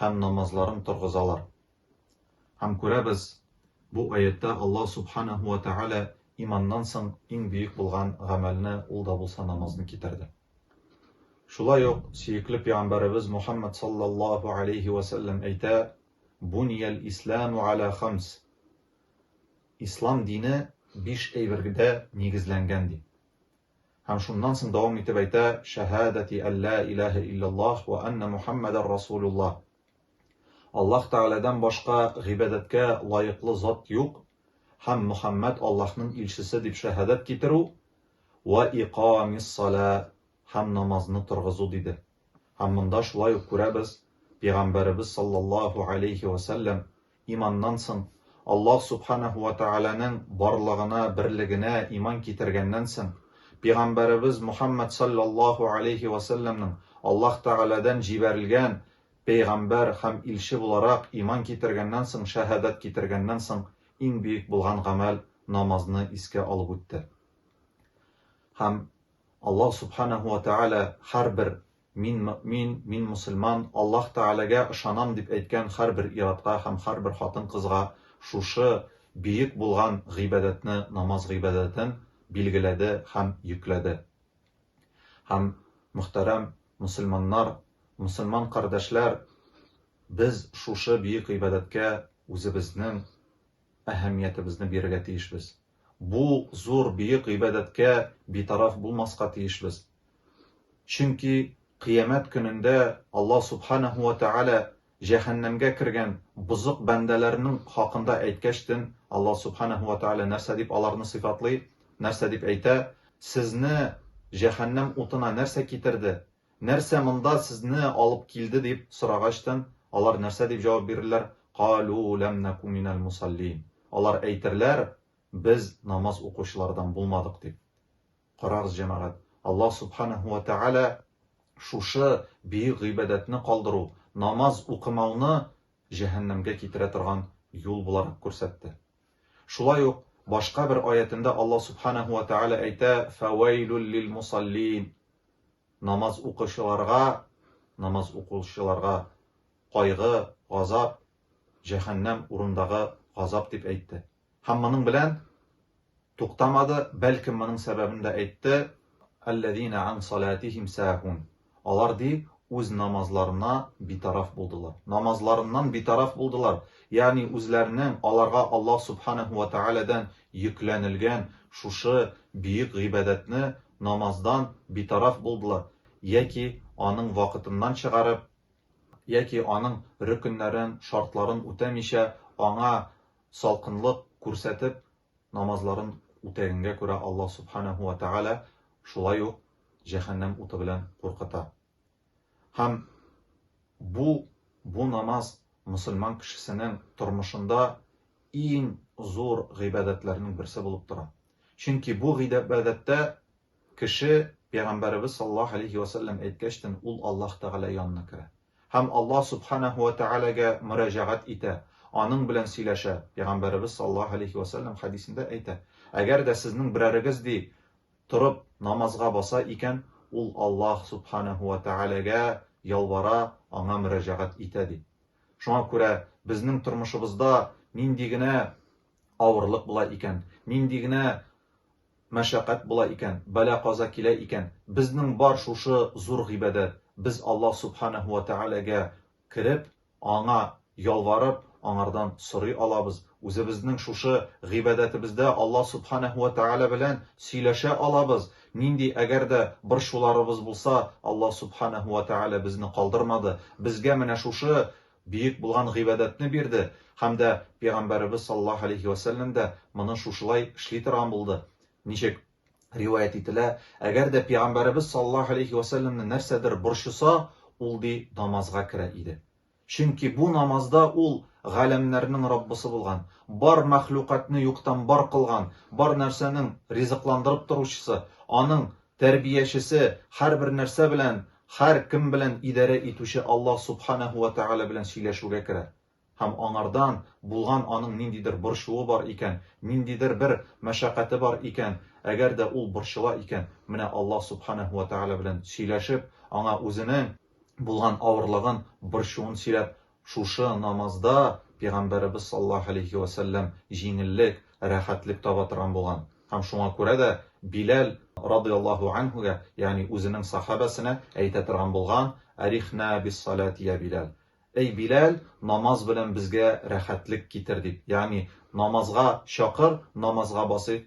һәм намазларын торгызалар. Һәм күрәбез, бу аятьтә Аллаһ Субханаһу вә Тәгалә иманнан соң иң бөек булган гамәлне, ул да булса намазны китерде. Шулай ук сөекле пәйгамбәребез Мухаммад саллаллаһу алейһи вә сәлләм әйтә, Бунияль исламу аля хамс. Ислам дине биш әйбергә нигезләнгән ди. Һәм шуннан соң дәвам итеп әйтә, Шәһадәти ән лә иләһә илләллаһ вә әннә Мухәммәдән расулуллаһ. Аллаһ Тәгаләдән башка гыйбадәткә лаеклы зат юк һәм Мөхәммәд Аллаһның илчесе дип шәһадәт китерү, вә икамиссалә һәм намазны торгызу, диде. Һәм монда шулай ук күрәбез, Пәйгамбәребез салләллаһу галәйһи вә сәлләм Иманнан соң, Аллаһ Сүбхәнәһү вә Тәгаләнең барлыгына, берлегенә иман китергәннән соң, пигамбәребез Мөхәммәд салләллаһу алейһи вә сәлләмнең Аллаһ Тәгаләдән җибәрелгән пәйгамбәр һәм илче буларак иман китергәннән соң, шәһадәт китергәннән соң иң бөек булган гамәл намазны искә алып үтте. Һәм Аллаһ Сүбхәнәһү вә Тәгалә һәрбер Мин мөэмин, мин мөселман, Аллаһ Тәгаләгә ышанам дип әйткән һәрбер ир-атка һәм һәрбер хатын-кызга шушы бөек булган гыйбадәтне, намаз гыйбадәтен билгеләде һәм йөкләде. Һәм, мөхтәрәм мөселманнар, мөселман кардәшләр, без шушы бөек гыйбадәткә үзебезнең әһәмиятебезне бирергә тиешбез. Бу зур, бөек гыйбадәткә битараф булмаска тиешбез. Чөнки Кыямәт көнендә Аллаһ Субханәһү вә Тәгалә җәһәннәмгә кергән бозык бәндәләренең хакында әйткәчтен, Аллаһ Субханәһү вә Тәгалә нәрсә дип аларны сыйфатлый, нәрсә дип әйтә, Сезне җәһәннәм утына нәрсә китерде? Нәрсә монда сезне алып килде дип сорагачтын, алар нәрсә дип җавап бирерләр? Калу ләм наку минәл мусаллиин. Алар әйтерләр, Без намаз укучылардан булмадык дип. Карагыз, җәмәгать, Аллаһ Субханәһү вә Тәгалә шушы бөек гыйбадәтне калдыру, намаз укымауны җәһәннәмгә китерә торган юл буларак күрсәтте. Шулай ук башка бер аятендә Аллаһ Сүбхәнәһү вә Тәгалә әйтә, Фәвәйлүл лил-мусаллиин, Намаз укычыларга, намаз укучыларга, кайгы, газап, җәһәннәм урындагы газап дип әйтте. Һәм моның белән туктамады, бәлкем моның сәбәбен дә әйтте, Әлләзина ан салатихим саһун, Алар, ди, үз намазларына битараф булдылар. Намазларыннан битараф булдылар, ягъни үзләренең аларга Аллаһ Субханәһү вә Тәгаләдән йөкләнелгән шушы бөек гыйбадәтне, намаздан, битараф булдылар, яки аның вакытыннан чыгарып, яки аның рөкеннәрен, шартларын үтәмичә, аңа салкынлык күрсәтеп, намазларын үтәгәнгә күрә Аллаһ Субханәһү вә Тәгалә шулай ук җәһәннәм уты белән куркыта. Һәм бу бу намаз мөселман кешесенең тормышында иң зур гыйбадәтләрнең берсе булып тора. Чөнки бу гыйбадәттә кеше Пәйгамбәребез саллаллаһу алейһи вә сәлләм әйткәчтен ул Аллаһ Тәгалә янына керә. Һәм Аллаһ Сүбхәнәһү вә Тәгаләгә мөрәҗәгать итә, Аның белән сөйләшә. Пәйгамбәребез саллаллаһу галәйһи вә сәлләм хәдисендә әйтә, Әгәр дә сезнең берәрегез, ди, торып намазга баса икән, ул Аллаһ Сүбхәнәһү вә Тәгаләгә ялвара, Аңа мөрәҗәгать итә, ди. Шуңа күрә безнең тормышыбызда нинди генә авырлык була икән, нинди генә Мәшәкать була икән, бәла-каза килә икән, безнең бар шушы зур гыйбадәт, без Аллаһ Сүбхәнәһү вә Тәгаләгә кереп, Аңа ялварып, Аңардан сорый алабыз, үзебезнең шушы гыйбадәтебездә Аллаһ Сүбхәнәһү вә Тәгалә белән сөйләшә алабыз, нинди әгәр дә борчуларыбыз булса, Аллаһ Сүбхәнәһү вә Тәгалә безне калдырмады, безгә менә шушы Бөек булган гыйбадәтне бирде һәм дә Пәйгамбәребез саллаллаһу галәйһи вә сәлләм дә моны шушылай эшли торган булды. Ничек? Риваять ителә, Әгәр дә Пәйгамбәребез саллаллаһу галәйһи вә сәлләмне нәрсәдер борчыса, ул, ди, намазга керә иде. Чөнки бу намазда ул Галәмнәрнең Раббысы булган, бар мәхлукатьне юктан бар кылган, бар нәрсәнең ризыкландырып торучысы, аның Тәрбиячесе, һәрбер нәрсә белән, һәр кем белән идарә итүче Аллаһ Субханәһү вә Тәгалә белән сөйләшүгә керә һәм аңардан булган аның ниндидер борчуы бар икән, ниндидер бер мәшәкате бар икән, әгәр дә ул борчыла икән, менә Аллаһ Субханәһү вә Тәгалә белән сөйләшеп, аңа үзенең булган авырлыгын, борчуын сөйләп, Шушы намазда Пигамбәребез саллаллаһу галәйһи вә сәлләм җиңеллек, рәхәтлек таба торган булган. Һәм шуңа күрә дә Биләл радыяллаһу анһугә, ягъни үзенең сахабәсенә әйтә торган булган, Арихнә бис-саләти йә Биләл. Әй Биләл, намаз белән безгә рәхәтлек китер, дип, ягъни намазга чакыр, намазга басыйк,